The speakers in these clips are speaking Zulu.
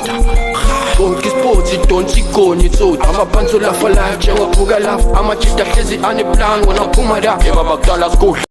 Konke isports idonsa igoni itsotsi amaphansi olafalayo njengophuka lafa amajita hlezi aneplan wona phuma la yeba bakudala sikudla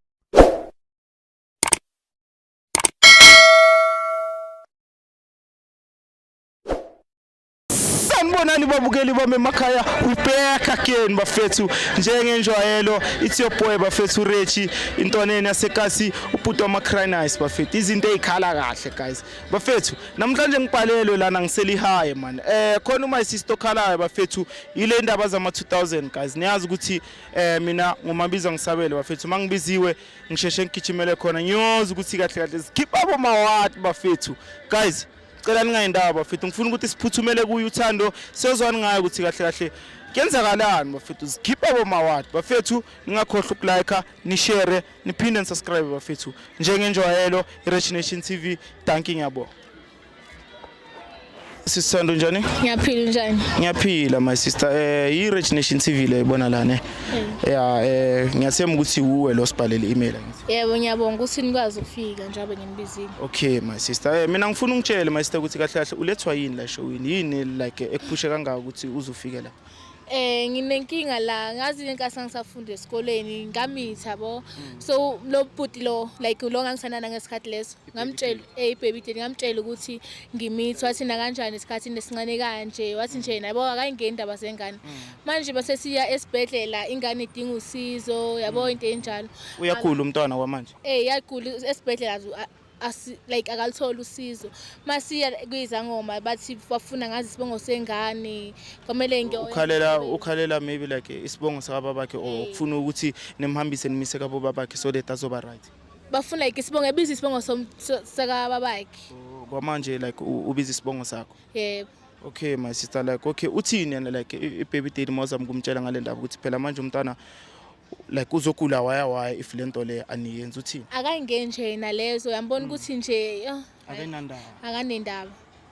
sanibonani babukeli bami emakhaya we back again bafethu njengenjwayelo it's your boy bafethu rechi intoneni yasekasi ubhuti wamacrinice bafethu izinto ey'khala kahle guys bafethu namhlanje ngibhalelwe lana ngiselihaye mani eh khona uma isisto khalayo bafethu ile ndaba zama 2000 guys niyazi ukuthi eh mina ngomabiza ngisabele bafethu uma ngibiziwe ngisheshe ngigijimele khona ngiyoza ukuthi kahle kahle zikhipha abo mawati bafethu guys cela ningayindawo bafethu ngifuna ukuthi siphuthumele kuyo uthando siyozwani ngayo ukuthi kahle kahle kuyenzakalani bafethu zikhipha abo mawati bafethu ningakhohlwa ukulike nishare niphinde nisubscribe bafethu njengenjwayelo i-rich nation tv danki ngiyabonga sisithanda unjani ngiyaphila unjani ngiyaphila my sister eh yi-rich nation tv le ibona la ne ya eh ngiyathemba ukuthi wuwe lo sibhalele i-email angithi yebo ngiyabonga ukuthi nikwazi ukufika njengoba nginibizile okay my sister eh mina ngifuna ungitshele my sister ukuthi kahle kahle ulethwa yini la showini yini like ekuphushe kangaka ukuthi uzofike la eh nginenkinga la ngazi inkathi ngisafunda esikoleni ngamitha bo hmm. so lo bhuti lo like lo ngangisanana ngesikhathi leso ngamtshela eh baby dad ngamtshela ukuthi ngimithi wathi na kanjani isikhathi nesincane kanje wathi nje hmm. yabo akayingeni indaba zengane hmm. manje base siya esibhedlela ingane idinga usizo yabo into enjalo uyakhula umntwana kwamanje eh yakhula esibhedlela asi like akalutholi usizo masiya kuyizangoma bathi bafuna ngazi isibongo sengane kwamele ngiyo ukhalela ukhalela maybe like isibongo sakababa bakhe or ukufuna ukuthi nimhambise nimise kabo babakhe so that azoba right bafuna like isibongo ebiza isibongo sakababa bakhe oh, kwamanje like ubiza isibongo sakho yebo okay my sister like okay uthini yena like ibaby daddy mawuzama kumtshela ngale ndaba ukuthi phela manje umntana like uzogula waya waya if le nto le aniyenzi uthini akangeni nje yena lezo uyambona hmm. ukuthi nje oh, akanandaba akanendaba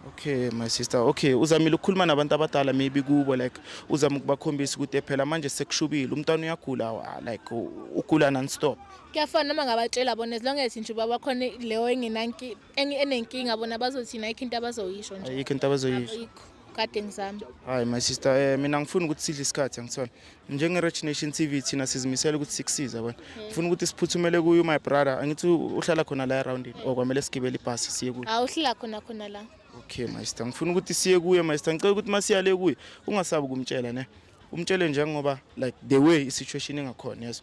okay my sister okay uzamile ukukhuluma nabantu abadala maybe kubo like uzama ukubakhombisa ukuthi phela manje sekushubile umntwana uyagula wa- like u- ugula non-stop kuyafana noma ngabatshela bona as long as nje uba bakhona leyo engenanki- enge- enenkinga bona bazothini ayikho into abazoyisho nje ayikho into abazoyisho ayikho kade ngizama hayi my sister um mina ngifuna ukuthi sidle isikhathi angithole njenge-rich nation t v thina sizimisele ukuthi sikusize yabona ngifuna ukuthi siphuthumele kuyo my brother angithi uhlala khona la erawundini or kwamele sigibele ibhasi siye kuyo awuhlala khona khona la okay master ngifuna ukuthi siye kuye master ngicela ukuthi masiya le kuye ungasabi kumtshela ne umtshele njengoba like the way isituation engakhona yeso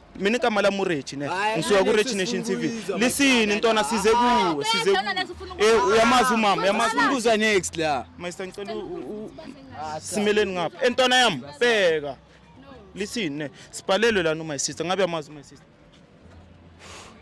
mina igama lami urechi ne ngisuka kurechi nation tv lisini ntwana size kuwe size eh uyamazi umama uyamazi umbuza next la master ngicela simeleni ngapha entwana eh, yami bheka lisini ne sibhalelwe lana uma sister ngabe yamazi uma sister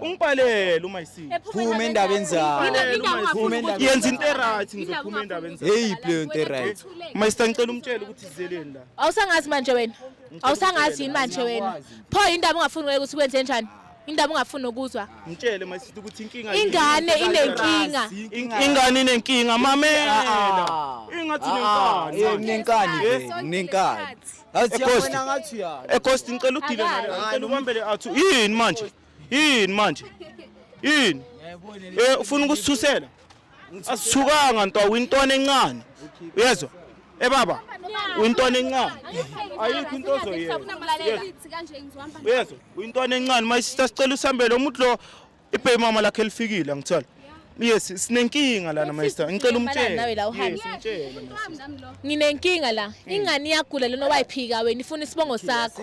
Ungibhalele uma isi. Phuma endabeni zakho. Phuma endabeni. Yenza into eright ngizophuma endabeni zakho. Hey play into eright. Uma isita ngicela umtshele ukuthi izeleni la. Awusangazi manje wena. Awusangazi yini manje wena. Pho indaba ungafuni wena ukuthi kwenze njani? indaba ungafuni nokuzwa mtshele mayisithi ukuthi inkinga ingane inenkinga ingane inenkinga mamela ah, ah. ingathi ah, nenkani nenkani nenkani athi yabona ngathi ya ecost ngicela udile ngicela ubambele athu yini manje yini manje yini eh ufuna ukusithusela asithukanga nto uyintwana encane uyezwa eh baba uyintwana encane ayikho into ozoyenza uyezwa uyintwana encane mayisisa sicela usambele umuntu lo ibhey mama lakhe lifikile ngithola yes sinenkinga lana master ngicela umtshele nawe la uhambe nginenkinga la ingane iyagula lona wayiphika wena ifuna isibongo sakho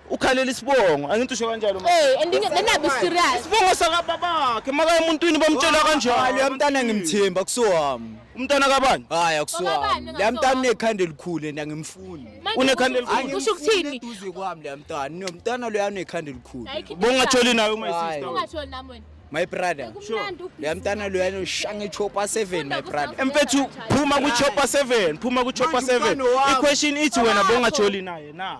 ukhalela isibongo angithi usho kanjalo ma Hey, and then then I'll be serious. isibongo sakababakhe maka emuntwini bamtshela Hayi, kanjani uyamntana ngimthemba kusiwami umntana kabani hayi akusiwami Wakabani, la mntana ngasuwami. unekhanda elikhulu and angimfuni Manje Unekhanda kusho- elikhulu. Kusho ukuthini? eduze kwami la mntana nomntana loya unekhanda elikhulu Hayi, khipha bongatholi nayo my Hayi. sister Ungatholi nami wena. my brother Kumnandi ubhizi. la mntana loya unoshanga ichopa 7 my brother empethu phuma kuchopa 7 phuma kuchopa Manje umntwana 7 wami. iquestion ithi wena bongatholi naye na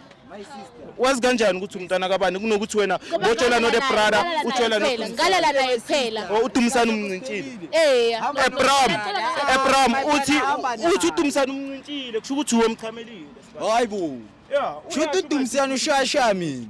wazi kanjani ukuthi umntana kabani kunokuthi wena botshela no the brother utshela no ngalela naye phela oh, udumisana umncintshile eh ebram ebram uthi uthi udumisana umncintshile kusho ukuthi uwe mchamelile hayibo yeah shuthi udumisana ushaya shaya mina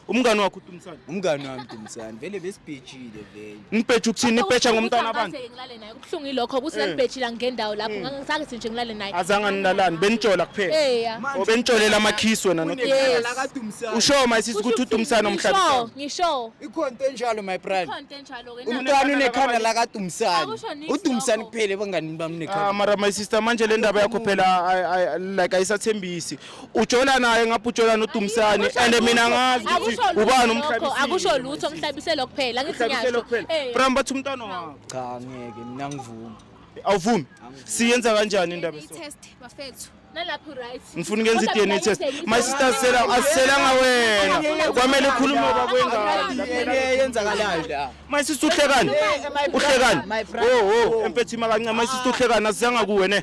umngani wakho uDumsane umngani wami Dumsane vele besibhejile vele nibheje ukuthini nibheja ngomntana abantu Ngeke ngilale naye kubuhlungu ilokho ukuthi Eh. nanibhejile angikendawo lapho Mm. ngangisakithi nje ngilale naye azange nilalani benitshola kuphela eya o benitsholela amakhisi wena no- Yes. lakadumsane usho mayisisi ukuthi uDumsane omhlabi ngisho ngisho ikhona into enjalo my brother ikhonto enjalo ke na umntwana unekhanda lakadumsane Akusho nix udumsane lokho. kuphela ebanganini bami Ah, nekhanda mara my sister manje le ndaba yakho phela ay- ay- like ayisathembisi ujola naye ngapha ujola noDumsane and mina ngazi ukuthi ubani umhlabisile akusho lutho umhlabiselo kuphela ngithi ngiyasho eh. Bram bathi umntwana wakho cha ngeke mina ngivuma awuvumi siyenza kanjani indaba test bafethu nalapho right ngifuna ukwenza i-DNA test my sister sela asiselanga wena kwamele ukhulume bakwengane yenzakalayo la my sister uhlekani uhlekani oh oh empethima kancane my sister uhlekani asizanga kuwe ne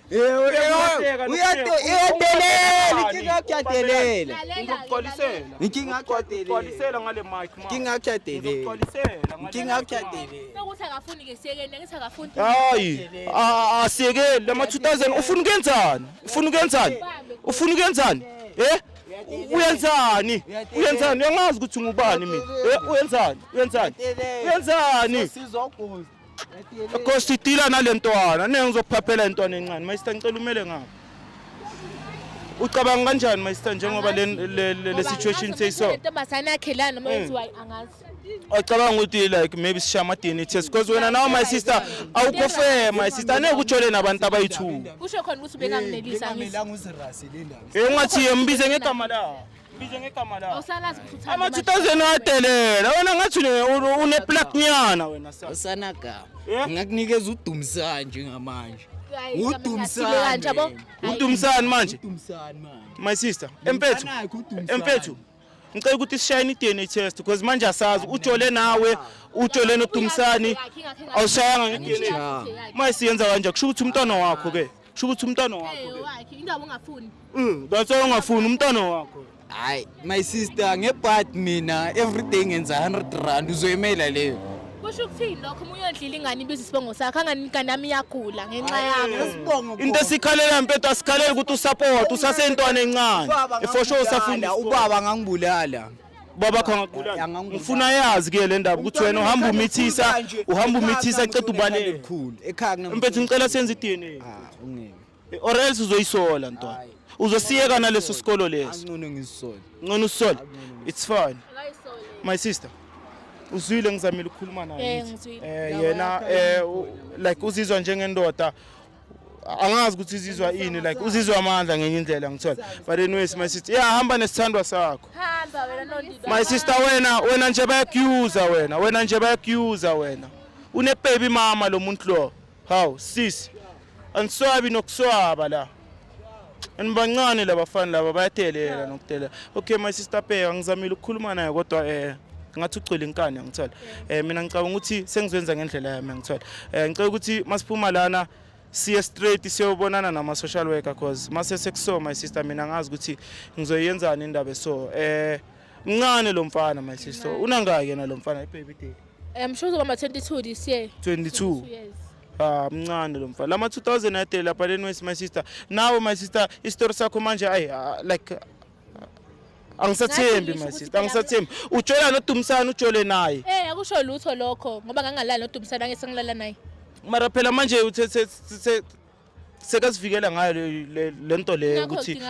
hayi asiyekeli lama 2000 ufuna ukenzani ufuna ukenzani ufuna ukenzani eh uyenzani uyenzani uyangazi ukuthi ngubani mina eh, uyenzani uyenzani uyenzani Kosi idila nalentwana ne ngizokuphaphela intwana encane mayista ngicela umele ngapha ucabanga kanjani mayista njengoba le le- le- le situation seyiso ntombazane yakhe la noma yenziwa angazi ocabanga ukuthi like maybe sishaye ama DNA test because wena nawe my sister awukho fair my sister angeke ujole nabantu abayithuka kusho khona ukuthi ubengamnelisa angithi Bengamela nguzirasi le ndaba. Eh ungathi yembize ngegama la Bize ngegama la. Awusalazi ukuthi uthanda Ama imali. 2000 adelela. Wena ngathi une- une plug nyana wena sa. usanagama Yeah. ngakunikeza udumisani njengamanje Hayi, igama Udumisani. lingashilo kanje, yabo. Hayi. Udumsani manje? udumisani manje My sister, empethu. Anakho udumisani. Empethu. Ngicela ukuthi sishayine i-DNA test because manje asazi ujole nawe, ujole nodumsani. Awushayanga nge-DNA. Angishayanga. Uma isiyenza kanje kusho ukuthi umntwana wakho ke. sho ukuthi umntwana wakho wakhe indaba ungafuni mm that's why ungafuni umntwana wakho hayi my sister ngebhad mina every day ngenza 100 rand uzoyimela leyo kusho ukuthini lokho uma uyodlila ingane ibiza isibongo sakho anganikani yami iyagula ngenxa yami isibongo into esikhalela mpeto asikhaleli ukuthi usupport usasentwana encane for sure usafunda ubaba ngangibulala baba khangaqula ngifuna yazi ke le ndaba ukuthi wena uhamba umithisa uhamba umithisa aqeda ubaleka mfethu ngicela senze i-dna ah, or else uzoyisola ntwana uzosiyeka naleso sikolo leso ngcono usisole it's fine my sister uzwile ngizamile ukukhuluma naye eh, eh yena eh like uzizwa njengendoda angazi ukuthi izizwa ini like uzizwa amandla ngenye indlela ngithola but anyways my sister yeah hamba nesithandwa sakho hamba wena nondida my sister wena wena nje bayakuuza wena wena nje bayakuuza wena une baby mama lo muntu lo how sis aniswabi nokuswaba la and bancane labafana laba bayadelela nokudelela okay my sister Peya ngizamile ukukhuluma naye kodwa eh ngathi ugcwele inkani angithola eh mina ngicabanga ukuthi sengizwenza ngendlela yami angithola eh ngicela ukuthi masiphuma lana siye straight siyobonana nama social worker cause mase sekuso my sister mina ngazi ukuthi ngizoyenzana indaba so eh mncane lo mfana my sister unangaki yena lo mfana ibaby day I'm sure uzoba ma 22 this year 22 yes Ah mncane lo mfana. Lama 2000 ade lapha leni wesi my sister. Nawe my sister isitori sakho manje ay ah, like angisathembi my sister angisathembi ujola nodumisana ujole naye eh akusho lutho lokho ngoba ngangalala nodumisana ngeke sengilala naye mara phela manje uthe sekazivikela ngayo le nto leyo ukuthi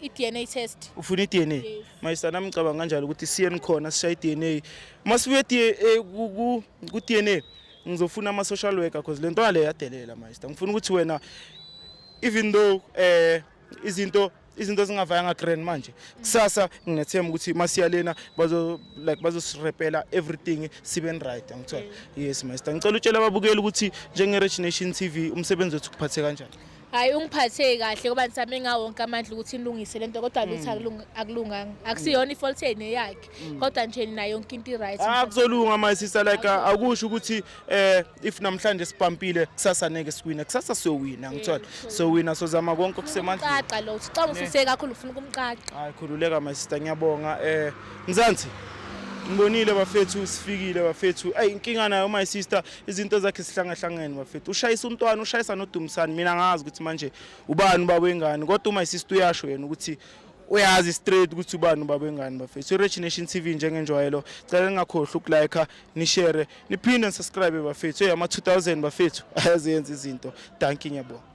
i-dna test ufuna i-dna mayisa nami ngicabanga kanjalo ukuthi siye nikhona sishaye i-dna uma sibuye ku-dna ngizofuna ama social worker because lento yale yadelela master ngifuna ukuthi wena even though eh izinto izinto zingavayanga grand manje kusasa nginethemba ukuthi masiya lena bazo like bazosirepela everything sibe right angithola yes master ngicela utshela ababukeli ukuthi njenge Rich Nation TV umsebenzi wethu kuphathe kanjani Hayi ungiphathe kahle ngoba ngisame ngawonke amandla ukuthi ilungise lento kodwa mm. lutho akulunganga. Akusiyona mm. ifault yenu yakhe mm. kodwa nje nina yonke into iright. Akuzolunga ah, my sister like ah, akusho ukuthi eh if namhlanje sipampile kusasa neke siwina kusasa siyowina ngithola. So wina sozama konke okusemandla. Caca lo ucanga ususe kakhulu ufuna ukumcaca. Hayi khululeka my sister ngiyabonga eh Mzansi ngibonile bafethu sifikile bafethu ayi inkinga nayo my sister izinto zakhe sihlangahlangene bafethu ushayisa umntwana ushayisa nodumisani mina ngazi ukuthi manje ubani ubaba wengane kodwa uma isistu uyasho yena ukuthi uyazi straight ukuthi ubani ubaba wengane bafethu i-rich nation t v njengenjwayelo cela ningakhohlwa ukulike nishere niphinde nisubscribe bafethu eyi ama-2000 bafethu ayaziyenza izinto danki ngiyabonga